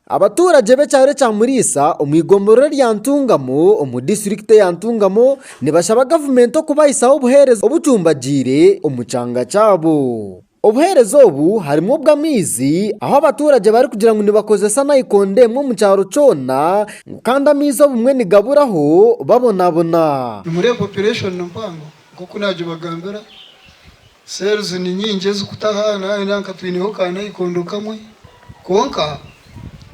Abatuuragye b'ekyaro ekya Muriisa omu igomborora erya Ntungamo omu disiturikiti eya Ntungamo nibashaba gavumenti okubahisaho obuheereza obucumbagyeire omu kyanga kyabo. Obuheereza obu harimu obw'amaizi ahu abatuuragye barikugira ngu nibakozesa nayikondo emwe omu kyaro kyona ngu kandi amaizi obumwe nigaburaho babonabona. Nimureeba operation mpango? Nk'oku naagibagambira, cells ni nyingi ezikutaha nari nanka twineho ka naikondo kamwe kwonka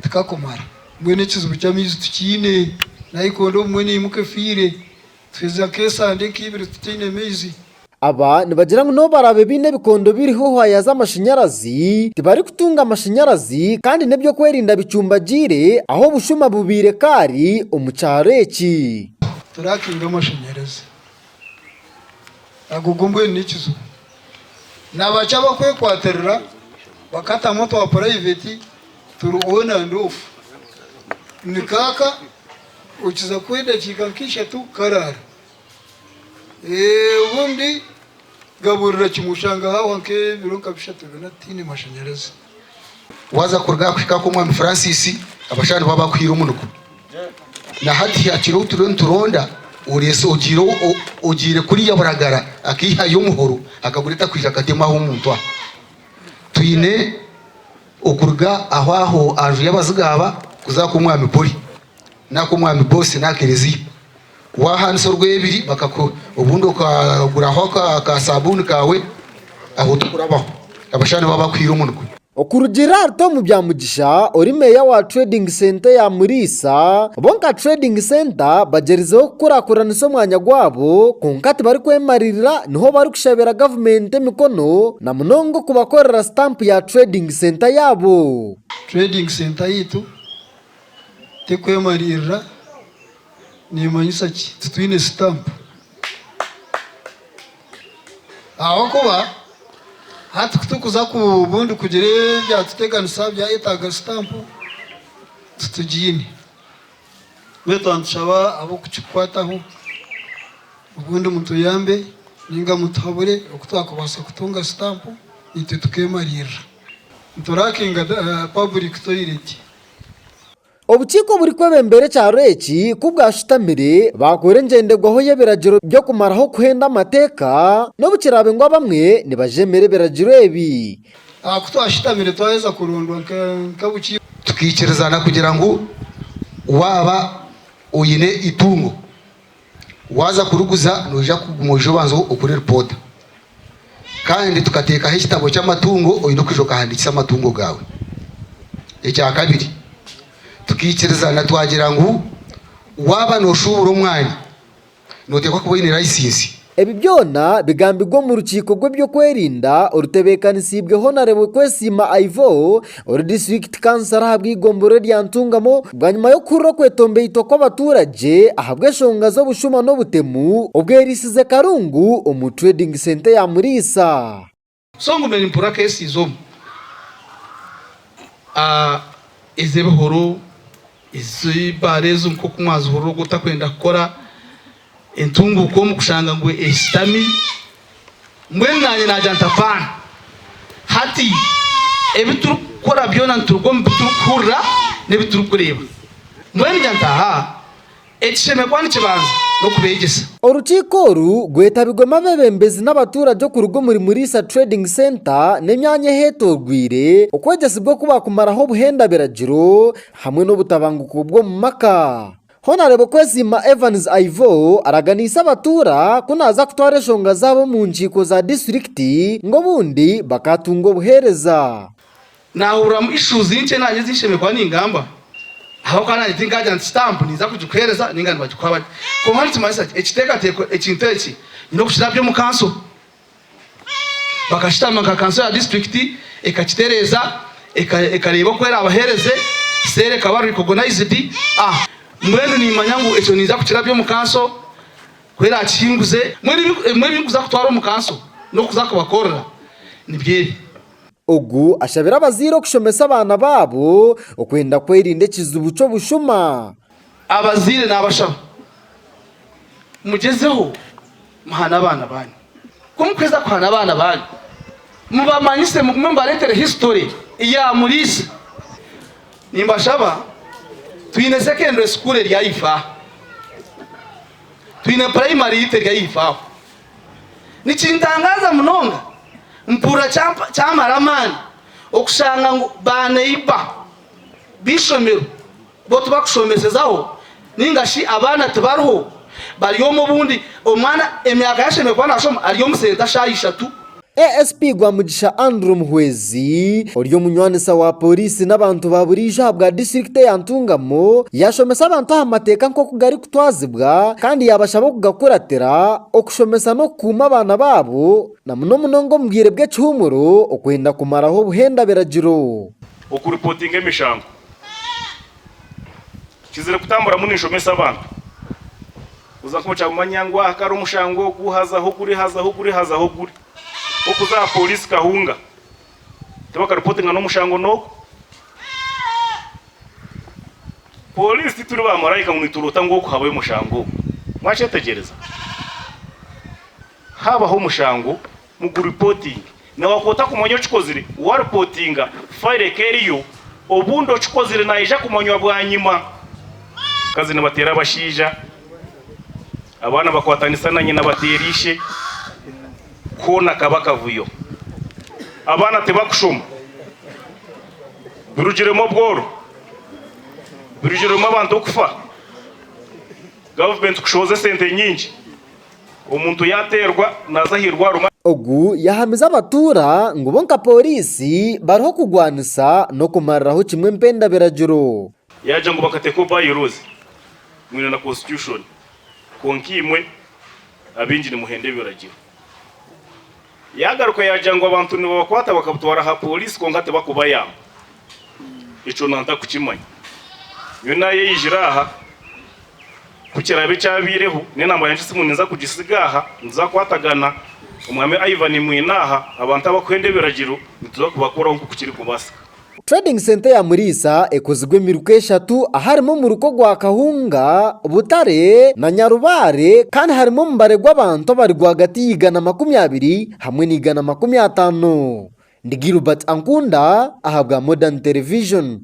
tikakumara. Mbwenu ekizibu ky'amaizi tukiine, naikondo obumwe neimuka efiire, tuheza nk'esande nk'eibiri tutaine maizi. Aba nibagira ngu n'obu baraabe baine ebikondo biriho hwaaya z'amashanyarazi, tibarikutunga amashanyarazi kandi n'eby'okwerinda bicumbagiire ahu obushuma bubaire kaari omu kyaro eki. Turakinga amashanyarazi Agogo mbwenu n'ekizibu. Nabaki abakwekwatirira bakatamu otwa purayiveti turi on and off? Ni kaaka okiza kuha edakiika nk'eishatu karaara. Obundi gaburira kimwe oshanga hahwa nk'ebiro nka bishatu bina tihaine mashanyarazi. Waaza kuruga aha kuhika kw'Omwami Francis, abashaija nibo abakuhaire omunuko. Na hati hihakire ou turiyo nituronda, oreese ogiire ogiire kuriya Buragara akaihayo omuhoro akagureeta kwija akateema aha omuntu aha. Twine okuruga aho aho aha nju y'abaziga aba kuza aha kw'Omwami Poli, n'aha kw'Omwami Bosi n'aha Kerezia. Waahaanisa orwebiri bakakuha, obundi okaguraho aka saabuuni kaawe ahu orikurabaho, abashaija nibo abakwiha omunwa. Okurugiirira ahari Tom Byamugisha ori meeya wa Trading Centre ya Muriisa, bo nka Trading Centre bagyerizeho kukurakuranisa omwanya gwabo kwonka tibarikwemarira niho barikushabira gavumenti emikono na munonga okubakorera stamp ya Trading Centre yaabo. Trading Centre yaitu terikwemarira. Neemanyisa ki? Titwine sitampu. Ahabw'okuba hati ku turikuza ku bundi kugira ebyatuteganisa byayetaaga sitampu, titugiine. Mbwenu nitushaba ab'okukikwataho obundi mutuyambe nainga mutuhabure oku twakubaasa kutunga sitampu naitwe tukeemariirira. Nituraakinga paburiki toireti. Obukiiko oburikwebembera ekyaro eki ku bwashutamire, baakoora engyendegwaho y'ebiragiro by'okumaraho okuhenda amateeka, n'obu kiraabe ngu abamwe nibajeemera ebiragiro ebi. Aha ku twashutamire twaheza kurondwa nk'obukiiko, tukaikirizana kugira ngu waaba oine eitungo Waaza kuriguza, noija kuguma oije obanze okore ripoota. Kandi tukateekaho ekitabo ky'amatungo, oine kwija okahandiikisa amatungo gaawe. Ekya kabiri, tukaikirizana twagira ngu waaba nooshuubura omwani, nooteekwa kuba oine laisinsi. Ebi byona bigambirwe omu rukiiko rw'ebyokwerinda orutebeekanisiibwe Honarable Kwesiima Ivor, Ori disiturikiti kansara ahabwa eigombora erya Ntungamo bwanyima y'okuhurira okwetombeitwa kw'abaturagye ahabw'eshonga z'obushuma n'obutemu obwerisize karungu omu Trading Centre ya Muriisa. So ngumire mpurira cases omu ez'ebihuru, ez'eibare ezo nkoku mwazihurira ogu otakwenda kukora. Entunguuka omu kushanga ngu eshutami, mbwenu naanye naagira nti, Afaana! Hati ebi turikukora byona nituruga omu bi turikuhurira n'ebi turikureeba. Mbwenu ngira nti, Aha! Ekishemererwa nikibanza n'okubeegyesa. Orukiiko oru rwetabirwemu abeebembezi n'abatuurage okuruga omuri Muriisa Trading Centre n'emyanya eheetoorwire, okwegyesibwa oku baakumaraho obuhendabiragiro hamwe n'obutabanguko bw'omu maka. Honarebo Kwesiima Evans Aivo araganiise abatuura ku naaza kutwara enshonga zaabo omu nkiiko za disiturikiti ngu obundi bakaatunga obuheereza. Naahuriramu ishuuzi nkye naanye ezi nshemererwa ningamba ahabw'okuba naanye tinkaagira nti sitampu ninza kugikuheereza nainga nibagikuha bati. Kwonka nikimanyisa ki ekiteekateeko ekintu eki? Nyine okukirabya omu kanso? Bakashutama nka kanso ya disiturikiti ekakitereeza, ekareeba oku eraabaheereze, seera ekaba rikogonayizidi. A Mbwenu niimanya ngu ekyo niija kukirabya omu kanso ku eraakihinguze. Mbwenu ebimwe ebi ndikuza kutwara omu kanso n'okuza kubakorera nibyo ebi. Ogu ashabire abazaire okushomesa abaana baabo okwenda kwerinda ekizibu ky'obushuma Abazaire naabashaba mugyezeho muhane abaana baanyu. Ku mukuheza kuhana abaana baanyu, mubamanyise mugume mubareetere hisitore ya Muriisa. Nimbashaba twine sekendure sukuuru eri ahaifo aha. Twine purayimari itwe eri ahaifo aho. Nikintangaaza munonga, mpurira kyamara amaani okushanga ngu baaneiba b'eishomero. Bo tibakushomesezaho ninga shi abaana tibariho bari omu obundi omwana emyaka ye ashemereire kuba nashoma ari omu senta shaha ishatu. ASP Rwamugisha Andrew Muhwezi ori omunywaniisa wa Pooriisi n'abantu ba buriijo aha bwa disiturikiti eya Ntungamo yashomesa abantu aha mateeka nk'oku garikutwazibwa kandi yabashaba okugakuratira okushomesa n'okukuuma abaana baabo na muno munonga omu bwire bw'ekihuumuro okwenda kumaraho obuhenda biragiro. Okuripootinga emishango. Nkizire kutamburamu ninshomesa abantu. Kuza nka okyabumanya ngu aha kare omushango ogu hazaho guri, hazaho guri, hazaho guri. Nk'okuza aha pooriisi Kahunga, tibakaripotinga n'omushango n'ogu. Pooriisi tituri baamaraika ngu nituroota ngu oku habayo omushango ogu. Mwakyetegyereza? Haabaho omushango, Muguripotinge. Nawe ku otakumanya okikozire, waripotinga, fayiro eka eriyo, obundi okikozire naija kumanywa bwanyima. Abakazi nibateera abashaija, abaana bakwatanisa na nyina bateera ishe, koona kaba akavuyo. Abaana tibakushoma. Birugiremu obworo. Birugiremu abantu kufa. Gavumenti kushohoza esente nyingi. Omuntu yaateerwa naaza aha irwariro. Ogu yahamize abatuura ngu bo nka pooriisi bariho kugwanisa n'okumariraho kimwe empenda biragiro. Yaagira ngu bakateekaho by laws mwine na constitution kwonka imwe abaingi nimuhenda ebiragiro. Yaagaruka yaagira ngu abantu nibabakwata bakabutwara aha pooriisi kwonka tibakubayamba. Ekyo na ntakukimanya. Nyowe naayeijire aha, ku kiraabe kyabaireho, nyowe naamara ngu esimu ninza kugisiga aha, nituza kukwatagana, Omwami Ivan mwine aha, abantu abakuhenda ebiragiro nituza kubakoraho nk'oku kirikubaasika. Trading Centre ya Muriisa ekozirwe emiruka eshatu aharimu omuruka ogwa Kahunga, Butare na Nyarubaare kandi harimu omubare gw'abantu abari rwagati y'eigana makumi abiri hamwe n'eigana makumi ataano. Ndi Gilbert Ankunda ahabwa Modern Television.